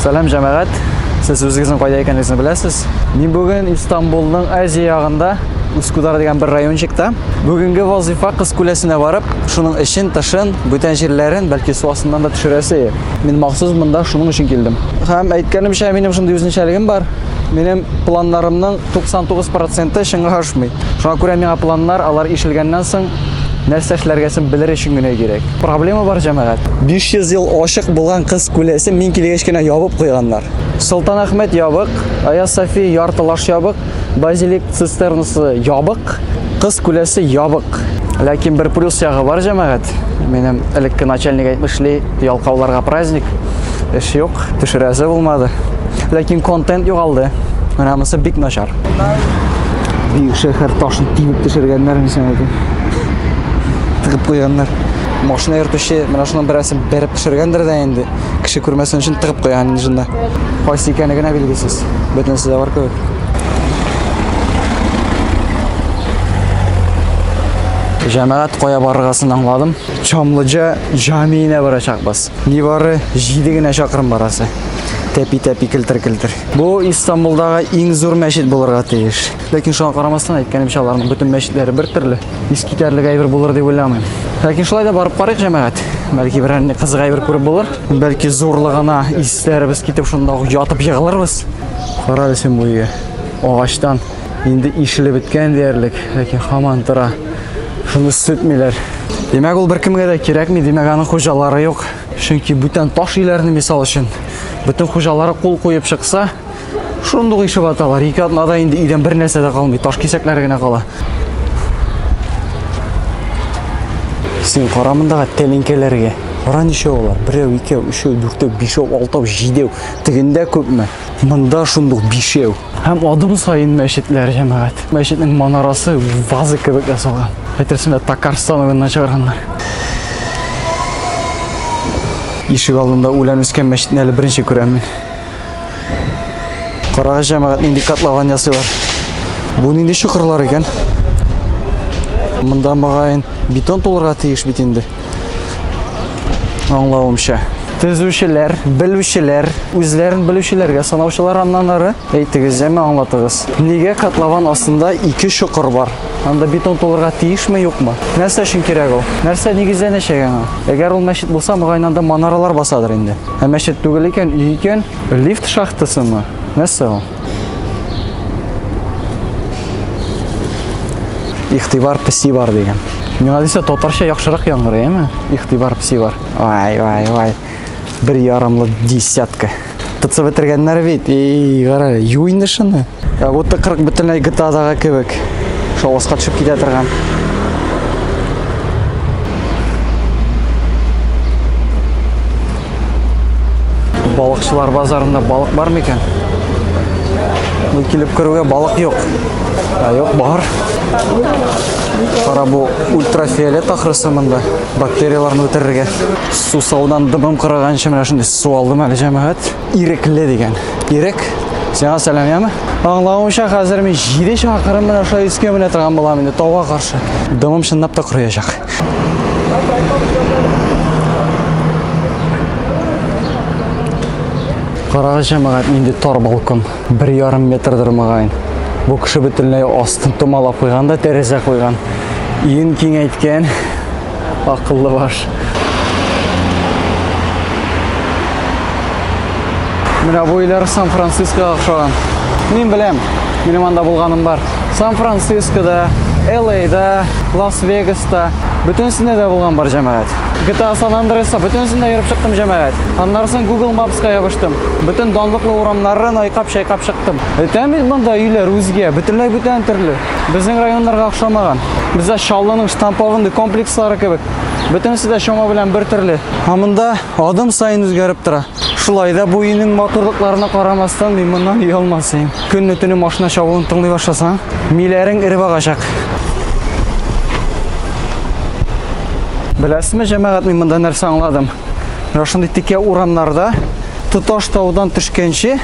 Сәлам җәмәгать. Сез үзегезнең кайда икәнлегегезне беләсез. Мин бүген Истанбулның Азия ягында Ускудар дигән бер райончикта. Бүгенге вазифа Кыз күләсенә барып, шуның эчен, тышын, бүтән җирләрен, бәлки су астыннан да төшерәсе. Мин махсус монда шуның өчен килдем. Һәм әйткәнемчә, минем шундый үзенчәлегем бар. Минем планнарымның 99% чынга ашмый. Шуңа күрә миңа планнар алар ишелгәннән соң нәрсә эшләргәсен белер өчен генә кирәк. Проблема бар, җәмәгать. 500 ел ачык булган кыз күләсе мин килгәч кенә ябып куйганнар. Солтан Әхмәт ябык, Аяз София яртылаш ябык, базилик цистернасы ябык, кыз күләсе ябык. Ләкин бер плюс ягы бар, җәмәгать. Минем элекке начальник әйтмешли, ялкауларга праздник. Эш юк, төшерәсе булмады. Ләкин контент югалды. Менә монысы бик начар. Бик шәһәр ташын тибеп төшергәннәр мисән иде. Тыгып куйганнар. Машина йөртүче менә шуның берәрсен бәреп төшергәндер дә инде. Кеше күрмәсен өчен тыгып куйган инде шунда. Кайсы икәне генә билгесез. Бөтенесе дә бар кебек. Җәмәгать кая барыргасын аңладым. Чамлыҗа җамиенә барачакбыз. Нибары 7 генә чакрым барасы. Тәпи-тәпи килтер-килтер. Бу Истанбулдагы иң зур мәчет булырга тиеш. Ләкин шуңа карамастан әйткәнемчә аларның бөтен мәчетләре бер төрле. Искитәрлек әйбер булыр дип уйламыйм. Ләкин шулай да барып карыйк җәмәгать. Бәлки берәр нинди кызык әйбер күреп булыр. Бәлки зурлыгына исләребез китеп шунда ук ятып егылырбыз. Кара син бу өйгә. Агачтан Инде ишелеп беткән диярлек, ләкин хаман тора. Шуны сүтмиләр. Димәк, ул беркемгә дә кирәкми, димәк, аның хуҗалары юк. Чөнки бүтән таш өйләрне мисал өчен бөтен хуҗалары кул куеп чыкса, шундук ишеп аталар. Ике атнада инде өйдән бер нәрсә дә калмый, таш кисәкләре генә кала. Син кара мондагы тәлинкәләргә. Кара ничә алар? Берәү, икәү, өчәү, дүртәү, бишәү, алтау, җидәү. Тегендә күпме? Монда шундук бишәү. Һәм адым саен мәчетләр җәмәгать. Мәчетнең манарасы ваза кебек ясалган. Әйтерсең лә Татарстан уенына чыгарганнар. Ишек алдында үлән үскән мәчетне әле беренче күрәм мин. Карагыз җәмәгать нинди котлован ясыйлар. Бу нинди чокырлар икән? Монда мөгаен бетон тулырга тиеш бит инде. Аңлавымча. Төзүчеләр, белүчеләр, үзләрен белүчеләргә санаучылар аннан ары. Әйтегез, җәме аңлатыгыз. Нигә котлован астында ике чокыр бар? Анда бетон тулырга тиешме, юкмы? Нәрсә өчен кирәк ул? Нәрсә нигезләнәчәк аңа? Әгәр ул мәчет булса, мөгаен анда манаралар басадыр инде. Ә мәчет түгел икән, өй икән, лифт шахтасымы? Нәрсә ул? Ихтибар песи бар дигән. Миңа дисә татарча яхшырак яңгырый, әме? Ихтибар песи бар. Ай, ай, ай. Бер ярымлы десятка. Тытса бетергәннәр бит. Эй, гара, ю инде шуны. Ә вот та 40 бөтенләй GTA-дагы кебек. Шаваска төшеп китә торган. Балыкчылар базарында балык бар микән? Бу килеп керүгә балык юк. А юк, бар. Кара бу ультрафиолет ахрысы монда. Бактерияларны үтерергә. Су саудан дыбым кырыганчы менә шундый су алдым әле җәмәгать. Ирекле дигән. Ирек. Сиңа сәлам, яме? Аңлавымча, хәзер мин 7 чакырым менә шулай искә менә торган булам инде тауга каршы. Дымым чынлап та кырыячак. Карагыз җәмәгать нинди тар балкон. 1,5 метрдер мөгаен. Бу кеше бөтенләй астын томалап куйган да тәрәзә куйган. Иен киңәйткән. Акыллы баш. Менә бу өйләр Сан-Францискога охшаган. Мин беләм. Минем анда булганым бар. Сан-Францискода, Элейда, Лас-Вегаста, бөтенесендә дә булган бар җәмәгать. GTA San Andreas-та бөтенесендә йөреп чыктым җәмәгать. Аннары соң Google Maps-ка ябыштым. Бөтен данлыклы урамнарын айкап-чайкап чыктым. Әйтәм бит монда өйләр үзгә, бөтенләй бүтән төрле. Безнең районнарга охшамаган. Бездә Чаллының штампованный комплекслары кебек. Бөтенесе дә чама белән бер төрле. Ә монда адым саен үзгәреп тора. Шулай да бу өйнең матурлыкларына карамастан, мин моннан оялмасыйм. Көнне төне машина чавуын тыңлый башласаң, миләрең эреп агачак. Беләсезме, җәмәгать, мин монда нәрсә аңладым? Менә шундый текә урамнарда тоташ таудан төшкәнче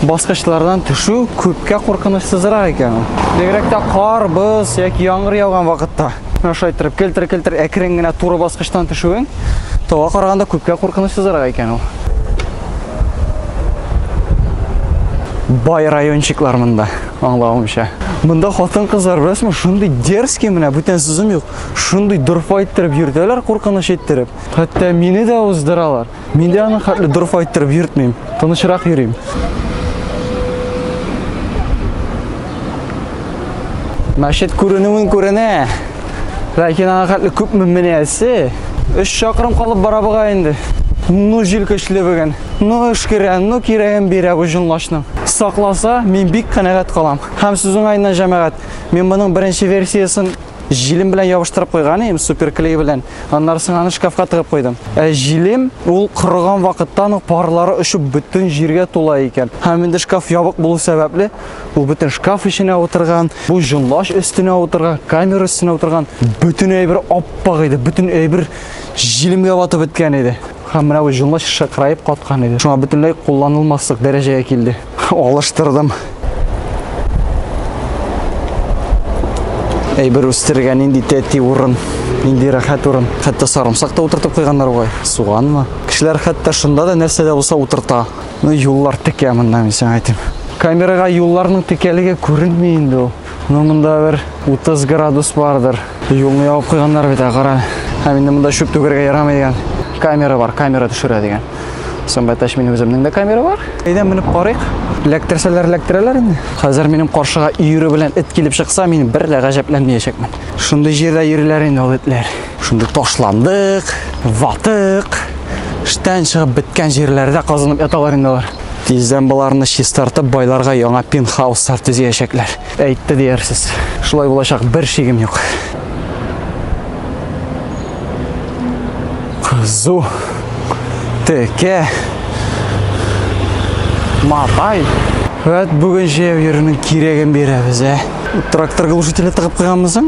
баскычлардан төшү күпкә куркынычсызрак икән. Бигрәк тә кар, боз яки яңгыр яуган вакытта. Менә шулай иттереп келтер-келтер әкрен генә туры баскычтан төшүең тауга караганда күпкә куркынычсызрак икән ул. Бай райончиклар монда, аңлавымча. Монда хатын-кызлар беләсезме, шундый дерзкий менә, бүтән сүзем юк. Шундый дорфа иттереп йөртәләр, куркыныч иттереп. Хәтта мине дә уздыралар. Мин дә аны хәтле дорф айттырып йөртмим. Тынычрак йөрим. Мәчет күренүен күренә. Ләкин аңа хәтле күп мөминәсе. 3 чакрым калып бара буга инде. Ну җил көчле бүген. Ну эшкерә, ну кирәген бирә бу җонлашның. Сакласа, мин бик канәгать калам. Һәм сүзең айна җәмәгать. Мин моның беренче версиясен Җилем белән ябыштырып куйган идем, суперклей белән. Аннары соң аны шкафка тыгып куйдым. Ә җилем ул корыган вакыттан ук парлары очып бөтен җиргә тула икән. Һәм инде шкаф ябык булу сәбәпле, ул бөтен шкаф эченә утырган, бу җонлач өстенә утырган, камера өстенә утырган. Бөтен әйбер аппак иде, бөтен әйбер җилемгә батып беткән иде. Һәм менә бу җонлач шыкыраеп каткан иде. Шуңа бөтенләй кулланылмаслык дәрәҗәгә килде. Алыштырдым. Әйбер үстергә нинди тәти урын, нинди рәхәт урын. Хәтта сарымсак та утыртып куйганнар бугай. Суганмы? Кешеләр хәтта шунда да нәрсә дә булса утырта. Ну, юллар текә монда, мин сиңа әйтим. Камерага юлларның текәлеге күренми инде ул. Ну, монда бер 30 градус бардыр. Юлны ябып куйганнар бит, кара. Һәм инде монда чүп түгәргә ярамый дигән. Камера бар, камера төшерә дигән. Сымбай таш минем үземнең дә камера бар. Әйдә менеп карыйк. Ләктерсәләр ләктерәләр инде. Хәзер минем каршыга өере белән эт килеп чыкса, мин бер дә гаҗәпләнмәячәкмен. Шундый җирдә йөриләр инде ул этләр. Шунда ташландык, ватык, штән чыгып беткән җирләрдә казынып яталар инде алар. Тиздән боларны чистартып, байларга яңа пентхауслар төзиячәкләр. Әйтте диярсез. Шулай булачак, бер шигем юк. Кызу, теке, матай. Вәт бүген җәяү йөрүнең кирәген бирәбез, ә? Трактор глушителе тыгып куйганмысың?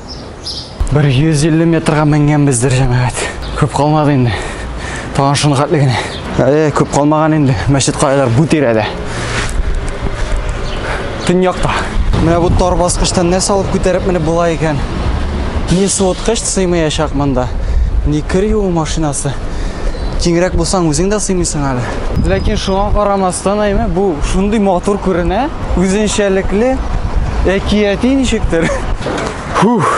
Бер 150 метрга менгәнбездер, җәмәгать. Күп калмады инде. Тагын шуны хәтле генә. Әле күп калмаган инде. Мәчет каялар бу тирәдә. Төньякта. Менә бу тар баскычтан нәрсә салып күтәреп менеп була икән. Ни суыткыч сыймаячак монда. Ни кер юу машинасы. Киңрәк булсаң үзең дә сыймыйсың әле. Ләкин шуңа карамастан, әйме, бу шундый матур күренә, үзенчәлекле, әкияти ничектер. Фух.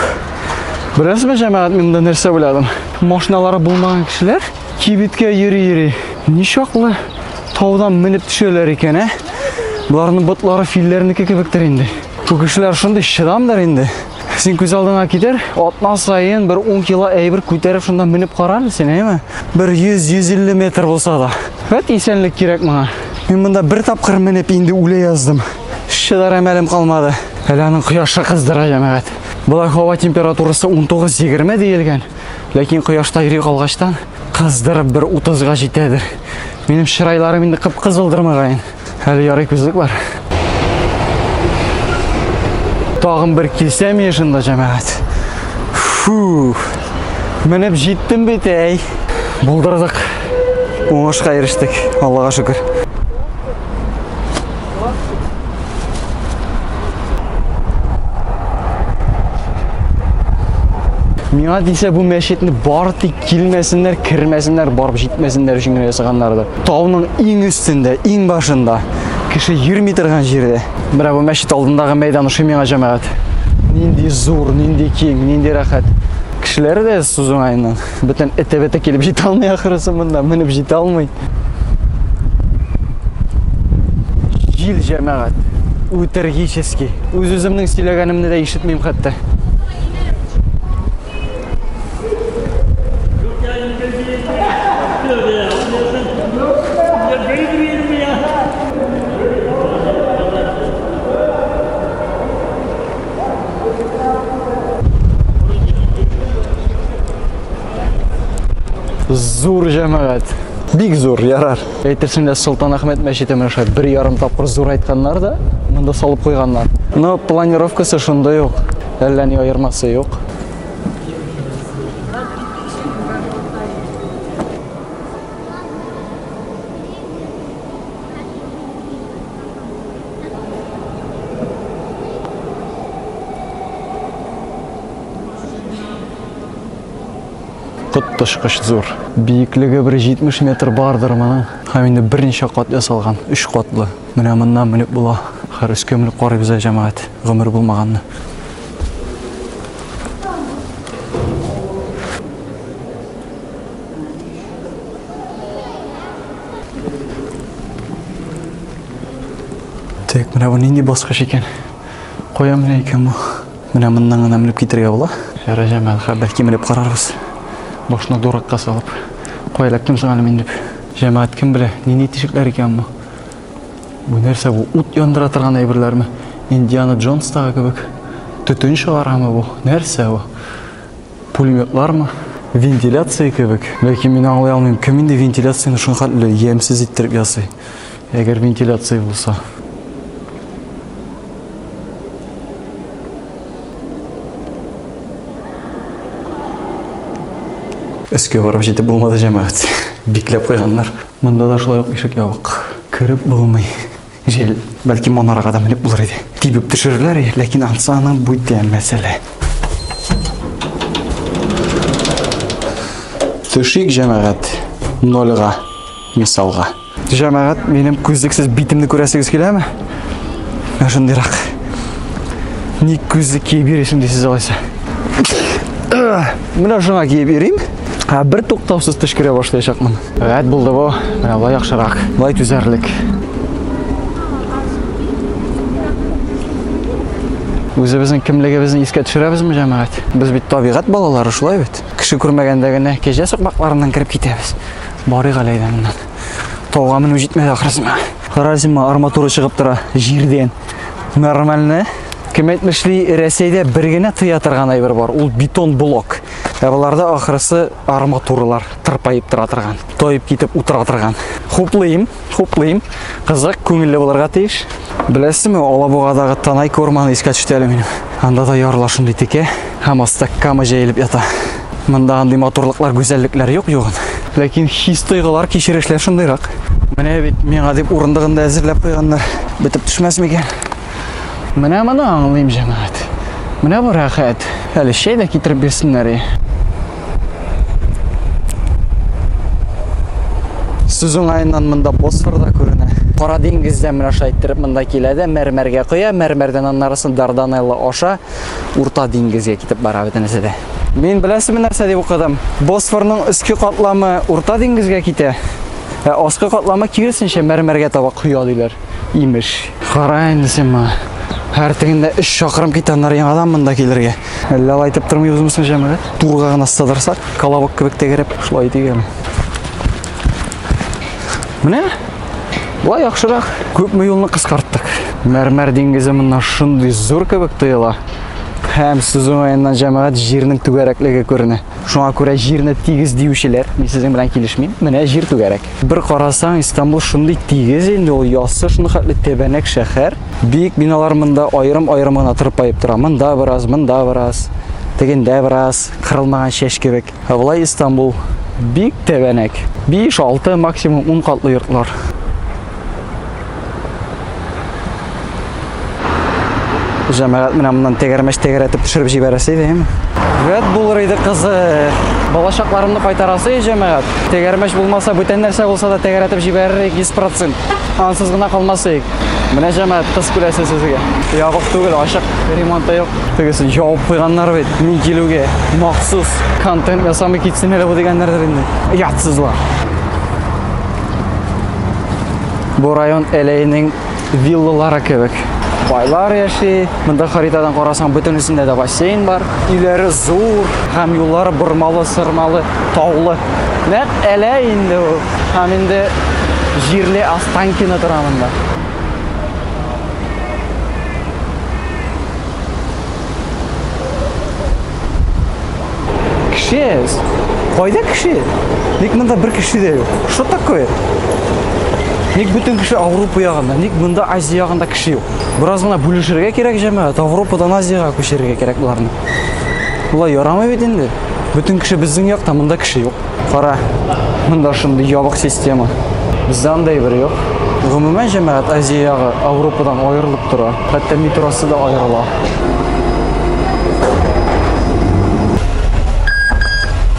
Беләсезме, җәмәгать, мин монда нәрсә уйладым? Машиналары булмаган кешеләр кибеткә йөри-йөри. Ничаклы таудан менеп төшәләр икән, ә? Боларның ботлары филләрнеке кебектер инде. Бу кешеләр шундый чыдамдыр инде. Син күз алдыңа китер, атна саен бер 10 кило әйбер күтәреп шунда менеп кара әле син, әйме? Бер 100-150 метр булса да. Вәт исәнлек кирәк моңа. Мин монда бер тапкыр менеп инде үлә яздым. Чыдарга мәлем калмады. Әле аның кояшы кыздыра, җәмәгать. Болай һава температурасы 19-20 диелгән, ләкин кояшта йөри калгачтан кыздырып бер 30-га җитәдер. Минем чырайларым инде кып-кызылдыр мөгаен. Әле ярый күзлек бар. Тагын бер килсәм ешында, җәмәгать. Фу! Менеп җиттем бит, әй. Булдырдык. Уңышка ирештек, Аллага шөкер. Миңа дисә бу мәчетне бары тик килмәсеннәр, кермәсеннәр, барып җитмәсеннәр өчен генә ясаганнардыр. Тауның иң өстендә, иң башында, кеше йөрми торган җирдә. Менә бу мәчет алдындагы мәйдан ошый миңа җәмәгать. Нинди зур, нинди киң, нинди рәхәт. Кешеләре дә сузуңайнан. Бөтен эте-бете килеп җитә алмый ахрысы монда, менеп җитә алмый. Җил җәмәгать. Үтергически. Үз үземнең сөйләгәнемне дә ишетмим хәтта. Зур җәмәгать. Бик зур, ярар. Әйтерсең лә Солтан Ахмед мәчете менә шулай бер ярым тапкыр зур айтканнар да, монда салып куйганнар. Но планировкасы шундый ук. Әллә ни аермасы юк. Коттышкыч зур. Биеклеге бер 70 метр бардыр моның. Һәм инде берничә кат ясалган, өч катлы. Менә моннан менеп була. Хәр өскә менеп карыйбыз ә җәмәгать, гомер булмаганны. Тик менә бу нинди баскыч икән? Кая менә икән бу? Менә моннан гына менеп китергә була. Ярый, җәмәгать, хәер, бәлки менеп карарбыз. Башны дуракка салып. Кая эләктем соң әле мин дип. Җәмәгать, кем белә, нинди тишекләр икән бу? Бу нәрсә бу? Ут яндыра торган әйберләрме? Индиана Джонстагы кебек. Төтен чыгарамы бу? Нәрсә бу? Пулеметлармы? Вентиляция кебек. Ләкин мин аңлый алмыйм, кем инде вентиляцияне шуңхатле ямьсез иттереп ясый? Әгәр вентиляция булса. Өскә барып җитеп булмады җәмәгать. Бикләп куйганнар. Монда да шулай ук ишек ябык. Кереп булмый. Җәл. Бәлки монарга да менеп булыр иде. Тибеп төшерерләр, ләкин ансаның бүтә мәсьәлә. Төшик җәмәгать. Нольга, мисалга. Җәмәгать, минем күзлексез битемне күрәсегез киләме? Менә шундыйрак. Ник күзлек киеп йөрисең дисез алайса. Менә шуңа киеп йөрим. Ә бер туктаусыз төшкерә башлаячакмын. Рәт булды бу. Менә болай яхшырак. Болай түзәрлек. Үзебезнең кемлегебезне искә төшерәбезме, җәмәгать? Без бит табигать балалары, шулай бит. Кеше күрмәгәндә генә кәҗә сукмакларыннан кереп китәбез. Барыйк әле әйдә моннан. Тауга менү җитмәде ахрысына. Разима арматура чыгып тора җирдән. Нормально. Кем әйтмешли, Рәсәйдә бер генә тыя торган әйбер бар. Ул бетон блок. Ә боларда ахрысы арматуралар тырпаеп тора торган. Тоеп китеп утыра торган. Хуплыйм. Хуплыйм. Кызык, күңелле булырга тиеш. Беләсеңме, Алабугадагы Танайка урманы искә төште әле минем. Анда да ярлар шундый текә һәм аста кама җәелеп ята. Монда андый матурлыклар, гүзәллекләр юк югын. Ләкин хис тойгылар, кичерешләр шундыйрак. Менә бит миңа дип урындыгын да әзерләп куйганнар. Бетеп төшмәс микән? Менә моны аңлыйм, җәмәгать. Менә бу рәхәт. Әле чәй дә китереп бирсеннәр. Сүз уңаеннан монда Босфор да күренә. Кара диңгездә менә шулай иттереп монда килә дә мәрмәргә коя, мәрмәрдән аннарысын Дарданелла аша Урта диңгезгә китеп бара бөтенесе дә. Мин беләсезме нәрсә дип укыдым? Босфорның өске катламы Урта диңгезгә китә, ә аскы катламы киресенчә мәрмәргә таба коя диләр. Имеш. Кара инде син моны. Һәр тегендә 3 чакрым китәннәр яңадан монда килергә. Әллә алай итеп тормыйбызмы соң җәмәгать? Турга гына сыдырсак, колобок кебек тәгәрәп шулай итик әле. Менә Болай яхшырак, күпме юлны кыскарттык. Мәрмәр диңгезе моннан шундый зур кебек тоела. Һәм сүз уңаеннан җәмәгать җирнең түгәрәклеге күренә. Шуңа күрә җирне тигез диючеләр, мин сезнең белән килешмим. Менә җир түгәрәк. Бер карасаң, Истанбул шундый тигез инде, ул яссы, шуны хәтле тәбәнәк шәһәр. Бик биналар монда аерым-аерым гына тырпаеп тора. Монда бераз, монда бераз, тегендә бераз, кырылмаган чәч кебек. Ә болай Истанбул бик тәбәнәк. 5-6, максимум 10 катлы йортлар. Җәмәгать менә моннан тәгәрмәч тәгәрәтеп төшереп җибәрәсе иде, әйеме? Вәт булыр иде кызы. Балачакларымны кайтарасы иде җәмәгать. Тәгәрмәч булмаса, бүтән нәрсә булса да тәгәрәтеп җибәрер идек 100%. Ансыз гына калмас идек. Менә җәмәгать кыз күрәсе сезгә. Ябык түгел, ачык, ремонты юк. Тегесен ябып куйганнар бит. Мин килүгә махсус контент ясамый китсен әле бу дигәннәрдер инде. Ятсызлар. Бу район әләйнең виллалары кебек. Байлар яши. Монда харитадан карасаң, бөтенесендә дә бассейн бар. Өйләре зур һәм юллары бормалы, сырмалы, таулы. Нәкъ әлә инде ул. Һәм инде җирле Останкино тора монда. Кеше? Кайда кеше? Ник монда бер кеше дә юк? Что такое? Ник бөтен кеше Авропа ягында? Ник монда Азия ягында кеше юк? Бераз гына бүлешергә кирәк җәмәгать. Авропадан Азиягә күчерергә кирәк боларны. Болай ярамый бит инде. Бөтен кеше безнең якта, монда кеше юк. Кара, монда шундый ябык система. Бездә андай бер юк. Гомумән җәмәгать Азия ягы Европадан аерылып тора. Хәтта метросы да аерыла.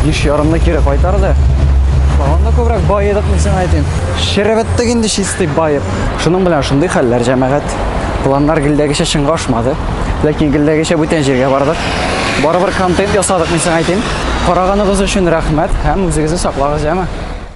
Биш ярымны кире кайтарды. Тагын да күбрәк баедык, мин сиңа әйтим. Шәрәбәттәк инде чистый баеп. Шуның белән шундый хәлләр җәмәгать. Егет, планнар гелдәгечә чынга ашмады. Ләкин гелдәгечә бүтән җиргә бардык. Барыбер контент ясадык, мин сиңа әйтим. Караганыгыз өчен рәхмәт һәм үзегезне саклагыз, яме.